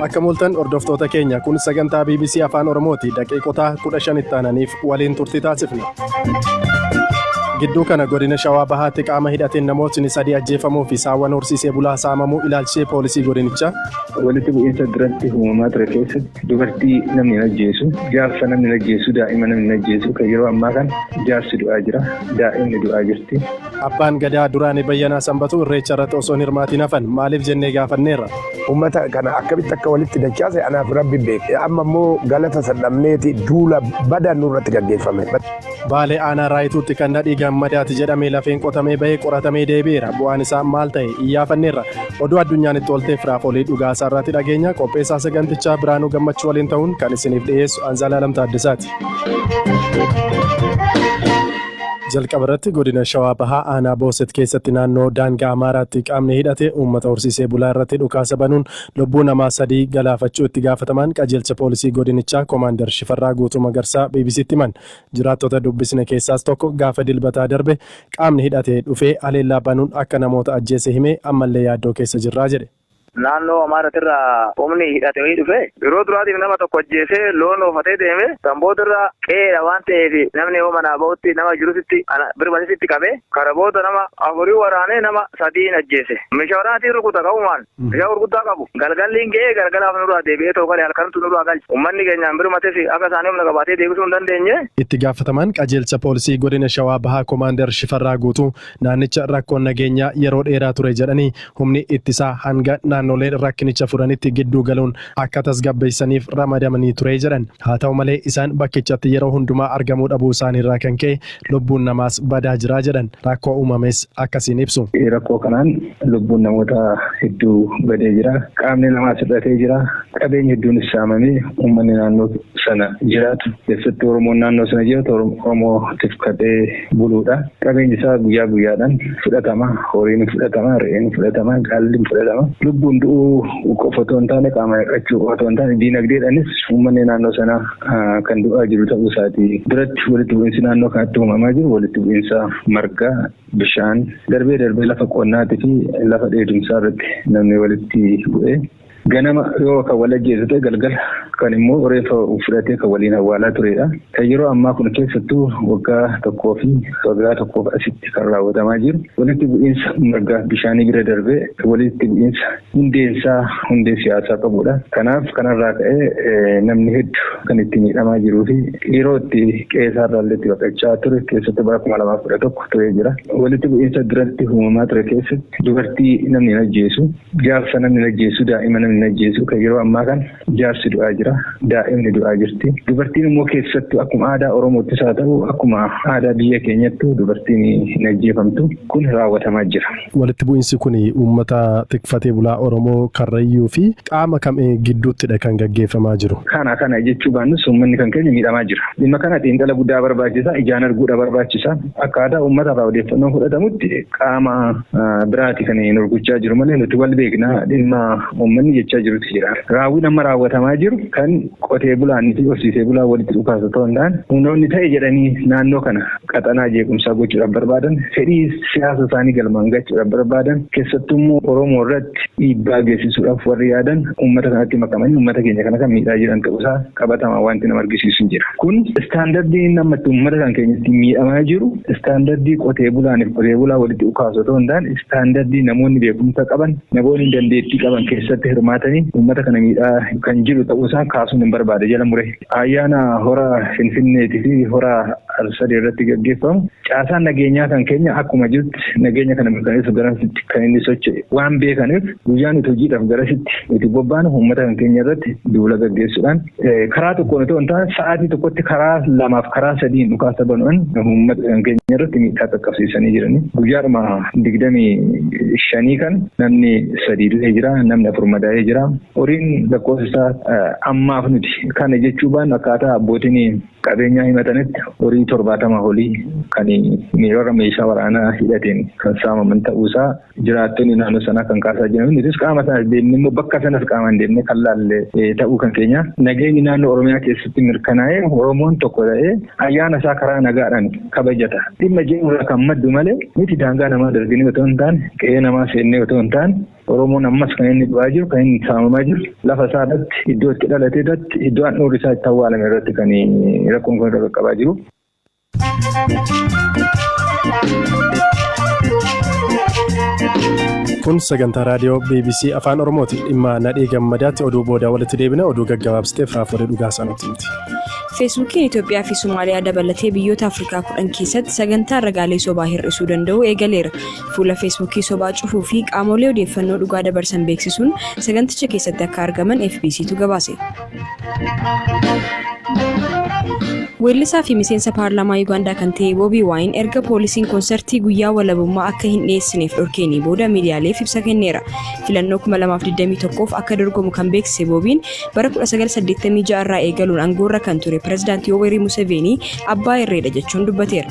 Akka mul'atan hordoftoota keenya kun sagantaa BBC Afaan Oromooti daqiiqota 15 itti aananiif waliin turtii taasifna. Gidduu kana godina Shawaa Bahaatti qaama hidhateen namootni sadii ajjeefamuu fi saawwan horsiisee bulaa saamamuu ilaalchisee poolisii godinichaa. Walitti bu'iinsa duratti uumamaa ture keessatti dubartii namni hin ajjeesu, jaarsa namni hin ajjeesu, daa'ima namni hin ajjeesu kan yeroo ammaa kana jaarsi du'aa jira, daa'imni du'aa jirti. Abbaan Gadaa duraanii Bayyanaa Sanbatuu Irreecha irratti osoo hin hirmaatiin hafan maaliif jennee gaafanneerra. Uummata kana akkamitti akka walitti dachaase anaafi Rabbi beeka. Amma immoo galata san dhabneeti duula badaan nurratti gaggeeffame. Baalee Aanaa Raayituutti kan Nadhii Gammadaati jedhame lafeen qotamee bahee qoratamee deebi'eera. Bu'aan isaa maal ta'e? Iyyaafanneerra. Oduu addunyaan itti oolte firaaf olii dhugaa isaa irraatti dhageenya. Qopheessaa sagantichaa Biraanuu Gammachuu waliin ta'uun kan isiniif dhiyeessu Anzaalaalam Taaddasaati. Jalqaba irratti Godina Shawaa Bahaa Aanaa Booset keessatti naannoo daangaa Amaaraatti qaamni hidhate uummata horsiisee bulaa irratti dhukaasa banuun lubbuu namaa 3 galaafachuu itti gaafatamaan qajeelcha poolisii godinichaa Komaandar Shifarraa Guutuu Magarsaa BBC'tti himan. Jiraattota dubbisne keessaas tokko gaafa Dilbataa darbe qaamni hidhate dhufee haleellaa banuun akka namoota ajjeese himee ammallee yaaddoo keessa jirra jedhe. Naannoo Amaaratirraa humni hidhate wayii dhufee yeroo duraatiif nama tokko ajjeesee loon oofatee deeme san boodarra qe'eedha waan ta'eef namni yoo manaa bahutti nama jirusitti ana birmatesitti qabe kana booda nama afurii waraanee nama sadiin ajjeese meeshaa waraanaatiin rukuta qabumaan meeshaa gurguddaa qabu galgalliin ga'ee galgalaaf nurraa deebi'ee tookale halkantu nurraa galche ummanni keenyaan birmatesi akka isaanii humna qabaatee deebisuu hin dandeenye. Itti gaafatamaan qajeelcha poolisii godina Shawaa Bahaa Komaandar Shifarraa Guutuu Naannicha rakkoon nageenyaa yeroo dheeraa ture jedhanii, humni ittisaa hanga naannoleen rakkinicha furanitti gidduu galuun akka tasgabbeessaniif ramadamanii ture jedhan. Haa ta'u malee isaan bakkichatti yeroo hundumaa argamuu dhabuu isaaniirraa kan ka'e lubbuun namaas badaa jira jedhan. Rakkoo uumames akkasiin ibsu. Rakkoo kanaan lubbuun namoota hedduu badee jira. Qaamni namaas hir'atee jira. Qabeenyi hedduunis saamamee uummanni naannoo sana jiraatu, keessattuu Oromoon naannoo sana jiraatu Oromoo tifkatee buluudha. Qabeenyi isaa guyyaa guyyaadhaan fudhatama. Horiin hin fudhatama, re'een hin fudhatama, gaalli hin fudhatama. Lubbuun du'uu qofa otoo hin taane qaamaan hir'achuu qofa otoo hin taane diinagdeedhaanis uummanni naannoo sanaa kan du'aa jiru ta'uu isaati. Biratti walitti bu'iinsi naannoo kanatti uumamaa jiru walitti bu'iinsa margaa, bishaan, darbee darbee lafa qonnaatii fi lafa dheedumsaa irratti namni walitti bu'ee Ganama yoo kan wal ajjeesu ta'e galgala kan immoo reeffa fudhatee kan waliin awwaalaa turedha. Kan yeroo ammaa kun keessattuu waggaa tokkoo fi waggaa tokkoof asitti kan raawwatamaa jiru walitti bu'iinsa margaaf bishaanii bira darbee walitti bu'iinsa hundeensaa hundee siyaasaa qabudha. Kanaaf kanarraa ka'ee namni heddu kan itti miidhamaa jiruu fi yeroo itti qe'eesaarraallee itti baqachaa ture keessattuu bara kuma lamaaf kudha tokko turee jira. Walitti bu'iinsa duratti uumamaa ture keessatti dubartii namni hin ajjeesu Jaarsa namni hin ajjeesu, daa'ima namni hin ajjeesu. Kan yeroo ammaa kana jaarsi du'aa jira, daa'imni du'aa jirti. Dubartiin immoo keessattuu akkuma aadaa Oromoottis haa ta'u akkuma aadaa biyya keenyattuu dubartiin hin ajjeefamtu. Kun raawwatamaa jira. Walitti bu'iinsi kun uummata tikfatee bulaa Oromoo Karrayyuu fi qaama kam gidduuttidha kan gaggeeffamaa jiru? Kana kana jechuu baannus uummanni kan keenya miidhamaa jira. Dhimma kana xiinxala guddaa barbaachisa, ijaan arguudha barbaachisa. Akkaataa uummata irraa odeeffannoo fudhatamutti qaama biraati kan nu rukuchaa jiru malee nuti wal beekna dhimma uummanni jechaa jirutti jira. Raawwiin amma raawwatamaa jiru kan qotee bulaanii fi horsiisee bulaa walitti dhukaasu ta'uu hin taane humnoonni ta'e jedhanii naannoo kana qaxanaa jeequmsaa gochuudhaaf barbaadan fedhii siyaasa isaanii galmaan gachuudhaaf barbaadan keessattuu immoo Oromoo irratti dhiibbaa geessisuudhaaf warri yaadan uummata kanatti makamanii uummata keenya kana kan miidhaa jiran ta'uusaa qabatamaan wanti nama argisiisu hin jira. Kun istaandardiin inni amma itti uummata kan keenyatti miidhamaa jiru istaandardii qotee bulaaniif qotee bulaa walitti ukaasu otoo hin taane istaandardii namoonni beekumsa qaban namoonni dandeettii qaban keessatti hirmaatanii uummata kana miidhaa kan jiru ta'uusaa kaasuun hin barbaade jala mure. Ayyaana hora Finfinneetii fi hora al-sadee irratti gaggeeffamu caasaan nageenyaa kan keenya akkuma jirutti nageenya kana mirkaneessu garasitti kan inni socho'e waan beekaniif guyyaa nuti hojiidhaaf garasitti nuti bobbaanu uummata kan keenya irratti duula gaggeessuudhaan karaa tokkoon otoo hin taane sa'aatii tokkotti karaa lamaaf karaa sadiin dhukaasa banu'an uummata kan keenya irratti miidhaa qaqqabsiisanii jiranii guyyaadhuma digdamii shanii kan namni sadii du'ee jira namni afur madaa'ee jira horiin lakkoofsa isaa ammaaf nuti kana jechuu baannu akkaataa abbootiin qabeenyaa himatametti horii 70 olii kan miirara meeshaa waraanaa hidhateen kan saamaman ta'uu isaa jiraattonni naannoo sanaa kan kaasaa jiran nutis qaama sanas deemne immoo bakka sanas qaamaan deemne kan laalle ta'uu kan keenya nageenyi naannoo Oromiyaa keessatti mirkanaa'ee Oromoon tokko ta'ee ayyaana isaa karaa nagaadhaan kabajata dhimma jedhu irraa kan maddu malee nuti daangaa namaa darbinee otoo hin taane qe'ee namaa seennee otoo hin taane Oromoon ammas kan inni du'aa jiru, kan inni saamamaa jiru lafa isaa irratti, iddoo itti dhalate irratti, iddoo handhuurri isaa itti awwaalame irratti kan rakkoon kun irra qaqqabaa jiru. Kun sagantaa raadiyoo BBC Afaan Oromooti. Dhimma Nadhii Gammadaatti oduu booda walitti deebina oduu gaggabaabsiteef Raafolee Dhugaa Saanootti miti. Feesbuukiin Itoophiyaa fi Somaaliyaa dabalatee biyyoota Afrikaa kudhan keessatti sagantaa ragaalee sobaa hir'isuu danda'u eegaleera. Fuula Feesbuukii sobaa cufuu fi qaamolee odeeffannoo dhugaa dabarsan beeksisuun saganticha keessatti akka argaman FBCtu gabaase. Weellisaa fi miseensa paarlaamaa Yuugaandaa kan ta'e Boobii Waayin erga poolisiin konsartii guyyaa walabummaa akka hin dhiyeessineef dhorkeenii booda miidiyaaleef ibsa kenneera. Filannoo 2021f akka dorgomu kan beeksise Boobiin bara 1986 irraa eegaluun aangoorra kan ture pirezidaantii Yoweri Museveenii abbaa irreedha jechuun dubbateera.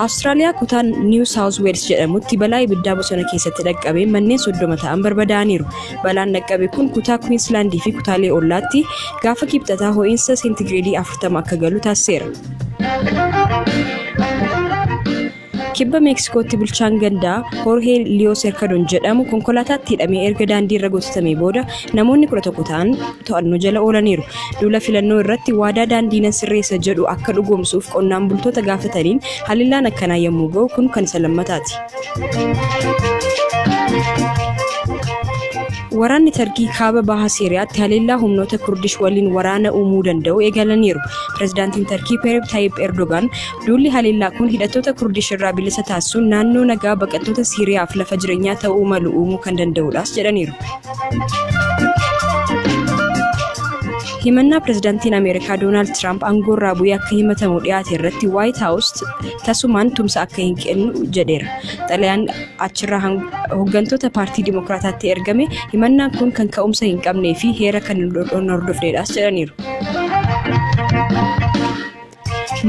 Awustiraaliyaa kutaa Niiw Saawuz Weels jedhamutti balaa ibiddaa bosona keessatti dhaqqabee manneen soddoma ta'an barbadaa'aniiru. Balaan dhaqqabe kun kutaa Kuwiinsilaandii fi kutaalee ollaatti gaafa kibxataa ho'iinsa seentigireedii 40 akka galu taasiseera. Kibba Meeksikootti bulchaan gandaa Hoorhee Liyoo Serkadon jedhamu konkolaataatti hidhamee erga daandii irra gototamee booda namoonni 11 ta'an to'annoo jala oolaniiru. Duula filannoo irratti waadaa daandii nan sirreessa jedhu akka dhugoomsuuf qonnaan bultoota gaafataniin haleellaan akkanaa yommuu ga'u kun kan isa lammataati. Waraanni Tarkii kaaba baha Siiriyaatti haleellaa humnoota Kurdish waliin waraana uumuu danda'u eegalaniiru. Pirezidaantiin Tarkii Peereb Taayib Erdogaan Duulli haleellaa kun hidhattoota Kurdish irraa bilisa taasisuun naannoo nagaa baqattoota Siiriyaaf lafa jireenyaa ta'uu malu uumuu kan danda'uudhaas jedhaniiru. Himannaa pirezidaantiin Ameerikaa Doonaald Tiraamp aangoorraa bu'ee akka himatamu dhiyaate irratti Waayit Haawus tasumaan tumsa akka hin kennu jedheera. Xalayaan achirraa hooggantoota paartii Dimookiraataatti ergame himannaan kun kan ka'umsa hin qabnee fi heera kan hin hordofneedhaas jedhaniiru.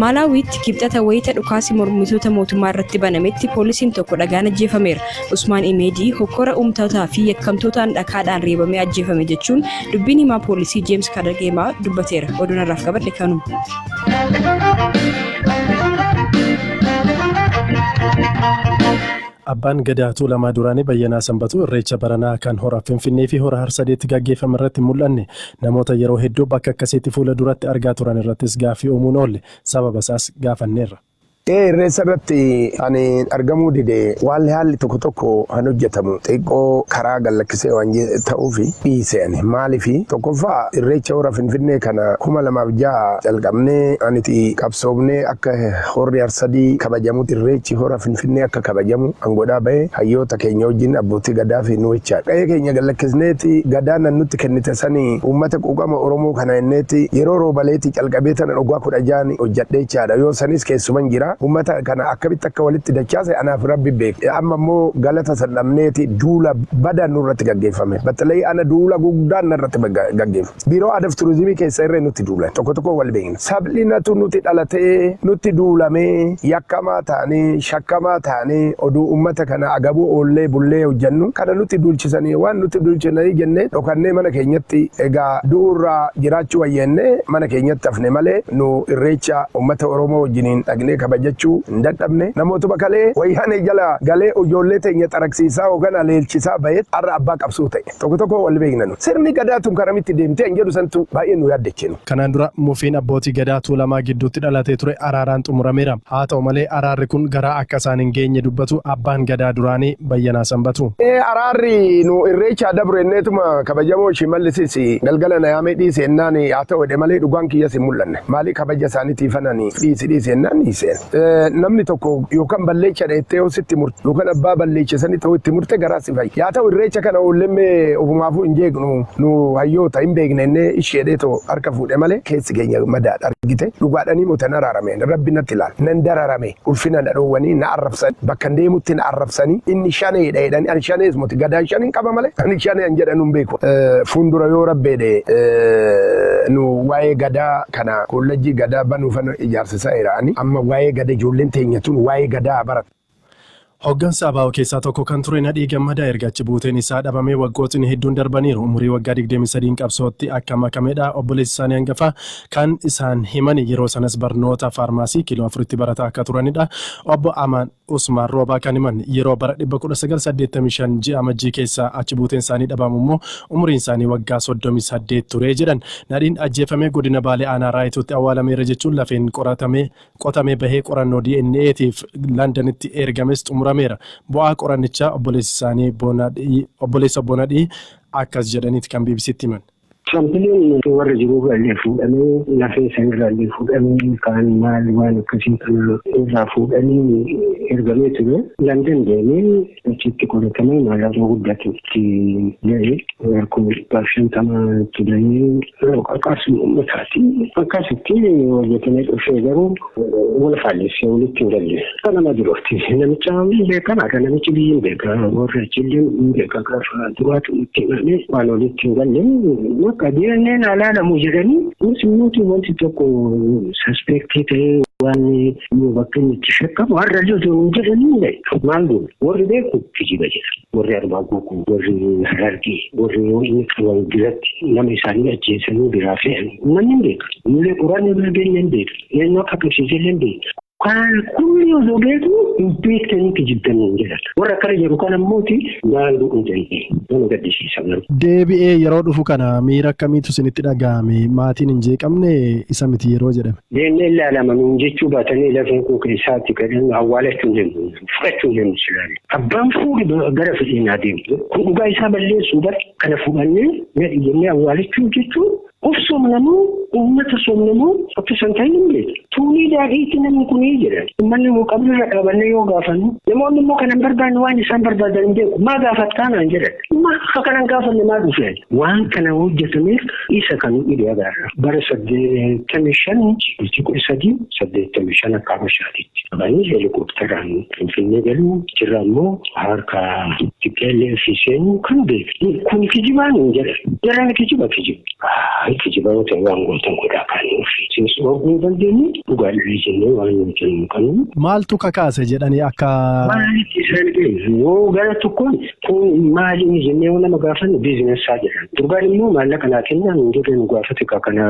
Maalaawiitti Kibxata wayita dhukaasi mormitoota mootummaa irratti banametti poolisiin tokko dhagaan ajjeefameera. Usmaan Imeedii hokkora uumtootaa fi yakkamtootaan dhakaadhaan reebamee ajjeefame jechuun dubbiin himaa poolisii Jeems Kadageemaa dubbateera. Oduun har'aaf qabadhe kanuma. Abbaan Gadaa Tuulamaa Duraanii Bayyanaa Sanbatuu Irreecha baranaa kan Hora Finfinnee fi Hora Harsadeetti gaggeeffame irratti hin mul'anne. Namoota yeroo hedduu bakka akkasiitti fuula duratti argaa turan irrattis gaaffii uumuu hin oolle. Sababa isaas gaafanneerra. Ee Irreecha irratti ani argamuu dide waalli haalli tokko tokko kan hojjetamu xiqqoo karaa gad lakkisee waan ta'uufi dhiise ani. Maaliif? Tokkoffaa Irreecha Hora Finfinnee kana 2006 calqabnee aniti qabsoofnee akka Horri Arsadii kabajamutti Irreechi Hora Finfinnee akka kabajamu angoodhaa bahe hayyoota keenya wajjin Abbootii Gadaa fi nu wechaa qa'ee keenya gad lakkisneeti Gadaa nan nutti kennite sani uummata quuqama Oromoo kana enneeti yeroo Roobaleeti calqabee tanan waggaa 16n hojjadhe jechaadha yoo sanis keessuman jira uummata kana akkamitti akka walitti dachaase anaa fi Rabbi beeka amma immoo galata san dhabneeti duula bada nurratti gaggeeffame battalay ana duula guddaan narratti gaggeef. Biiroo Aadaaf Turizimii keessa irree nutti duulan. Tokko tokkoon wal beekna. Sablinatu nuti dhalatee, nutti duulamee, yakkamaa taanee, shakkamaa taanee, oduu ummata kana agabuu oollee bullee hojjannu, kana nutti duulchisanii, waan nutti duulchisanii jennee dhokannee mana keenyatti egaa du'uurra jiraachuu wayya jennee mana keenyatti hafne malee nu Irreecha ummata Oromoo wajjiniin dhaqnee kabajachuu hin dadhabne. Namootuma kalee Wayyaanee jala galee ijoollee teenya xaragsiisaa yookaan aleelchisaa bahetu har'a abbaa qabsoo ta'e. Tokko tokko wal beekna nu. Sirni Gadaa tun karamitti deemti an jedhu santu baay'ee nu yaaddeche nu. Kanaan dura mufiin abbootii Gadaa Tuulamaa gidduutti dhalatee ture araaraan xumurameera. Haa ta'u malee araarri kun garaa akka isaan hin geenye dubbatu Abbaan Gadaa duraanii Bayyanaa Sanbatuu. Ee araarri nu Irreechaa dabre jenneetuma kabajamoo Shimallisis galgala na yaamee dhiisi jennaan haa ta'u jedhe malee dhugaan kiyyas hin mul'anne. Maali kabaja isaaniitiifan ani dhiisi dhiisi jennaan dhiise. namni tokko yookaan balleechadha jettee yoo sitti murte yookaan abbaa balleecha sanii ta'uu itti murte garaa si fayya. Yaa ta'u irreecha kana oollemmee ofumaafuu hin jeeqnu nu hayyoota hin beekna innee isheedhee too harka fuudhe malee keessi keenya madaadha argite dhugaadhanii moo tan araarame rabbi natti ilaal nan dararame ulfina na dhoowwanii na arrabsan bakka hin deemutti na arrabsanii inni shaneedha jedhanii ani shanees moti gadaan shan hin qaba malee ani shanee an jedhan hin beeku fuundura yoo rabbeedhe nu waa'ee gadaa kana kollajjii gadaa banu fana ijaarsisa ira ani amma waa'ee gada ijoolleen teenya tun waa'ee gadaa haa baratu. Hoggansa abo keessaa tokko kan ture Nadhii Gammadaa erga achi buuteen isaa dhabamee waggootni hedduun darbaniiru. Umurii waggaa 23n qabsootti akka makamedha obboleessi isaanii hangafaa kan isaan himani. Yeroo sanas barnoota faarmaasii Kiiloo Afuritti barataa akka turanidha Obbo Amaan. Usmaan Roobaa kan himan yeroo bara 1985 ji'a Amajjii keessa achi buuteen isaanii dhabamu immoo umuriin isaanii waggaa 38 ture jedhan. Nadhiin ajjeefame godina Baalee aanaa Raayituutti awwaalameera jechuun lafeen qoratamee qotamee bahee qorannoo DNA tiif Landanitti eergames xumurameera. Bu'aa qorannichaa obboleessi isaanii obboleessa obbo Nadhii akkas jedhaniiti kan BBCtti himan. Saampileen warra jiruurraa illee fuudhamee lafee sanirraa illee fuudhamee kaan maal waan akkasii kana irraa fuudhanii ergamee ture. Landan deemee achitti qoratamee mallattoo guddatu itti ga'e harkoo dhibbaaf shantamaa itti ga'ee qarqaarsuun uummataati. Akkasitti hojjetamee dhufee garuu wal faallessee walitti hin galle. Akka nama birootti namicha hin beekan akka namichi biyyi hin beeka warra achillee hin beeka gaafa duraatu itti himamee waan walitti hin galle akka deemneen alaalamu jedhanii kunis immoo wanti tokko saspeektii ta'ee waan yoo bakka inni itti shakkamu har'a loltuu hin jedhanii maal goone warri beeku kijiba jedha warri arbaa gookuu warri harargee warri yoo inni qaban biratti nama isaanii ajjeesanii biraa fe'an namni hin beeka. Mullee qoraan irra geenye hin beeka. Eenyu akka qabsiisee illee hin beektu. Kan kunni osoo beeku hin beektanii kijibdan hin jedhan. Warra akkana jedhu kan ammooti maal godhuu dandeenye nama gaddisiisa garuu. Deebi'ee yeroo dhufu kana miira akkamiitu isinitti dhaga'ame? Maatiin hin jeeqamne isa miti yeroo jedhame. Deemnee ilaalama nuun jechuu baatanii lafeen koo keessaatti gadhan awwaalachuu hin dandeenye. Fudhachuu hin dandeenye silaalee. Abbaan fuudhi gara fedhiin haa deemtu. Kun dhugaa isaa balleessuu bar kana fudhannee nadhi jennee awwaalachuuf jechuun Of soomna moo uummata soomna moo akka san ta'e hin beeku. Tuunii daadhiitti namni kunii jedhan. Uummanni immoo qabriirra dhaabannee yoo gaafannu namoonni immoo kana hin barbaanne waan isaan barbaadan hin beeku. Maa gaafattaa naan jedhan. Maa akka kana hin gaafanne maa dhufe ani. Waan kana hojjetameef isa kan nu dhibe agarra. Bara saddeettamii shan bultii kudha sadii saddeettamii shan akka habashaatitti. Banii heelikooptaraan Finfinnee galuu jirra ammoo harka TPLF seenuu kan beektu kun kijibaa nuun jedhe. Jarreen kijiba kijiba. Kijiba yoo ta'e waan gootan godhaa kan nuuf seensu arguu hin dandeenye dhugaa dhabee jennee waan nuun jennu hin qabnu. Maaltu kakaase jedhanii akka. Maalitti isaan ga'e yoo gara tokkoon Kun maali inni jennee yoo nama gaafannu biizinesaa jedhan. Durbaan immoo maallaqa naa kennaa nuun jedhee nu gaafate ka kana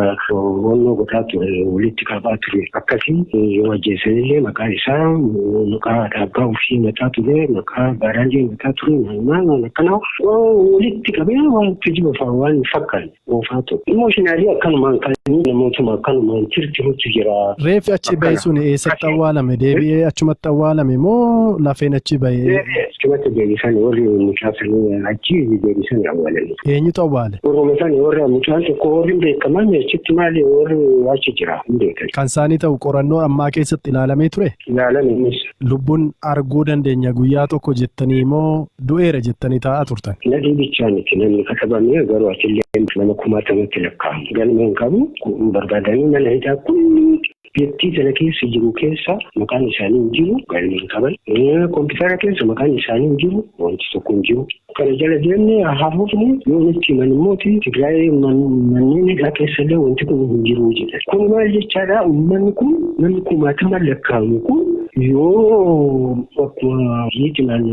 wannoo godhaa ture walitti qabaa ture akkasii yoo ajjeesan illee maqaa isaa maqaa haadha abbaa ofii mataa ture maqaa baaraallee mataa ture maal maal waan akkanaa walitti qabee waan kijiba fa'aa waan fakkaanne. Uufaa tu. Emotionally akkanumaan kan namootuma akkanumaan tirtirutu jira. Reeffi achi bahe Akkana. sun eessatti Akkana. awwaalame? Deebi'ee achumatti awwaalame moo lafeen achi bahe? Achumatti deebisan warri mucaa sanii achi deebisan awwaalanii. Eenyutu awwaale? Warruma sanii warra mucaan tokko warri hin beekaman achitti maali warri achi jira hin beekan. Kan isaanii ta'u qorannoo ammaa keessatti ilaalamee ture? Ilaalan innis Lubbun arguu dandeenya guyyaa tokko jettanii moo du'eera jettanii taa'aa turtan? Nadhii bichaa miti namni ka dhabamee garuu atillee nama kumaatamatti lakkaa'amu galma hin qabu nu barbaadanii mana hidhaa kullii biyyattii tana keessa jiru keessa maqaan isaanii hin jiru galma hin qaban kompiitara keessa maqaan isaanii hin jiru wanti tokko hin jiru Kana jala deemnee hafuufni yoo nutti himan immoo Tigraayee manneen hidhaa keessa illee wanti kun hin jiru jedhan. Kun maal jechaadha uummanni kun namni kumaatama lakkaa'amu kun yoo akkuma yeetimaan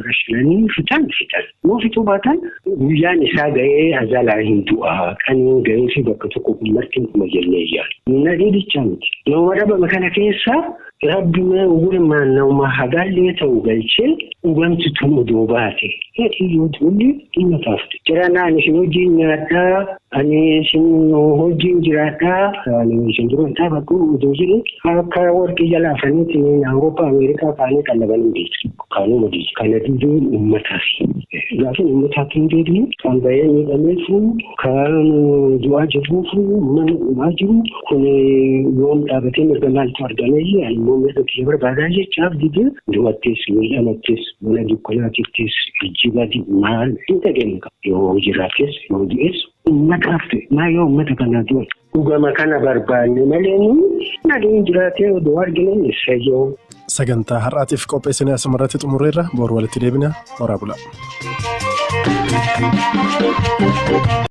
rashinanii fixan fixan yoo fixuu baatan guyyaan isaa ga'ee azalaa hin du'a kan hin ga'ee fi bakka tokko kun marti hin kuma jennee yaadu. Nadhii bicha miti. Nama dhabame kana keessaa Rabbi mee ugurmaan nauma hagaallee ta'u galchee dhugamti tun odoo baate heetii yoo tuullee dhimma taafte. Jaranaan isin hojiin nyaadhaa ani isin hojiin jiraadhaa ani isin duran dhaabadhu odoo jedhe akka warqii jala afaniitiin Awurooppaa Ameerikaa kaanii qallabanii deetu. Kaanuma deetu. Kana duduun ummatafi. Gaafin ummataatti hin deebiin kan bahee miidhameefu kan du'aa jirruufu mana dhumaa jiru Kun yoom dhaabatee mirga maaltu argamee ani immoo mirga kiyya barbaadaa jechaaf didee du'attis miidhamattis mana dukkanaatittis ijji badi maal hin dhageenye qaba yoo jiraates yoo du'es ummataaf ta'e maa yoo ummata kanaa du'e dhugama kana barbaanne malee nagaan jiraatee odoo argine eessayyoo. Sagantaa har'aatiif qopheessine asumarratti xumurreerra boru walitti deebina horaa bula.